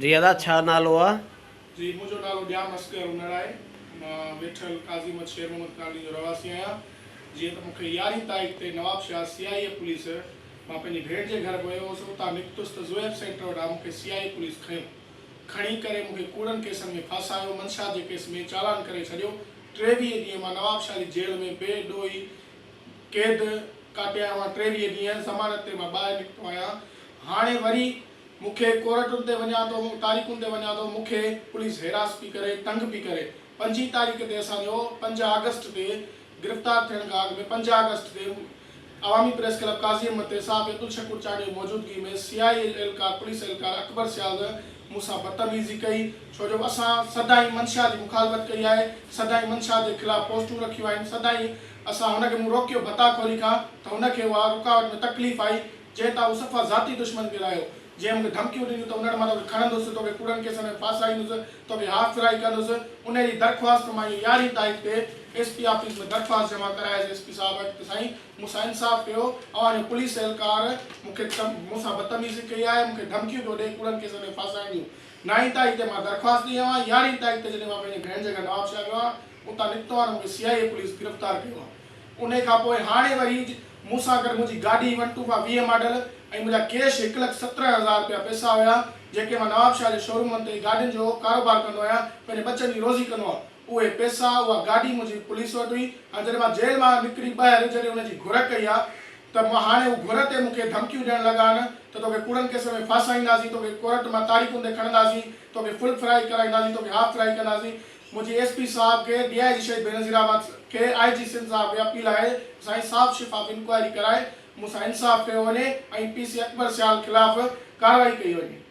جي ادا ڇا نالو آ. جي منهنجو نالو ڄام اصغر انڙ آهي مان ويٺل قاضي مت شير محمد ڪالوني جو رهواسي آهيان جيئن ته مونکي يارهين تاريخ تي Nawab Shah C I A police مان پنهنجي ڀيڻ جي گهر ويو هوس اتان نڪتس ته زوئيب سينٽر وٽ آ مونکي سي آئي اي پوليس کنيو کڻي ڪري مونکي ڪوڙن ڪيسن ۾ ڦاسايو منشات جي ڪيس ۾ چالان ڪري ڇڏيو ٽيويهه ڏينهن مان نواب شاهه جي جيل ۾ بي ڏوهي قيد ڪاٽيا اهي مان ٽيويهه ڏينهن ضمانت تي مان ٻاهر نڪتو آهيان هاڻي وري مون کي ڪورٽن تي وڃان ٿو مون تاريخن تي وڃان ٿو مون کي پوليس هيراس پي ڪري تنگ پي ڪري پنجين تاريخ تي اسان جو پنج آگسٽ تي گرفتار ٿيڻ کان اڳ ۾ پنج آگسٽ تي عوامي پريس ڪلب قاضي احمد تي صحافي عبدالشڪور چانڊيو جي موجودگي ۾ سي آء اي اهلڪار پوليس اهلڪار اڪبر سيال مون سان بدتميزي ڪئي ڇو جو اسان سدائين منشا جي مخالفت ڪئي آهي سدائين منشا جي خلاف پوسٽون رکيون آهن سدائين اسان هن کي مون روڪيو ڀتا خوري کان ته هن کي اها رڪاوٽ ۾ تڪليف آئي جنهن تان هو صفا ذاتي دشمن ڪيرايو. جنهن مونکي ڌمڪيون ڏنيون ته انهن مان توکي کڻندس، توکي ڪوڙن ڪيسن ۾ ڦاسائيندس، توکي هاف ڦرائي ڪندس، انهيء جي درخواست مان هي يارهين تاريخ تي ايس پي آفيس ۾ درخواست جمع ڪرايس ايس پي صاحب وٽ ته سائين مون سان انصاف ڪيو، اوهان جو پوليس اهلڪار مونکي مون سان بدتميزي ڪئي آهي، مونکي ڌمڪيون پيو ڏئي ڪوڙن ڪيسن ۾ ڦاسائڻ جون. نائين تاريخ تي مان درخواست ڏئي آيو آهيان، يارهين تاريخ تي جڏهن مان پنهنجي ڀيڻ جي گهر نوابشاهه ويو آهيان، اتان نڪتو آهي ته مونکي سي آء اي پوليس گرفتار ڪيو آهي انهي کانپوء هاڻي وري مون سان گڏ منهنجي گاڏي ون ٽو فائو ويهه ماڊل ۽ منهنجا ڪيش هڪ لک سترهن هزار رپيا پئسا هيا جيڪي مان نوابشاهه جي شورومن تي گاڏين جو ڪاروبار ڪندو آهيان پنهنجي ٻچن جي روزي ڪندو هئم اهي پئسا اها گاڏي منهنجي پوليس وٽ هئي هاڻي جڏهن مان جيل مان نڪري ٻاهر جڏهن انهن جي گهر ڪئي آهي ته مان هاڻي هو گهر تي مونکي ڌمڪيون ڏيڻ لڳا آهن ته توکي ڪوڙن ڪيسن ۾ ڦاسائينداسين توکي ڪورٽ مان تاريخون تي کڻنداسين توکي فل فرائي ڪرائينداسين توکي هاف فرائي ڪنداسين منهنجي ايس پي صاحب کي، ڊي آء جي شهيد بينظير احمد کي، آء جي سنڌ صاحب کي اپيل آهي ته سائين صاحب شفاف انڪوائري ڪرائي مون سان انصاف ڪيو وڃي ۽ پي سي اڪبر سيال خلاف ڪارروائي ڪئي وڃي.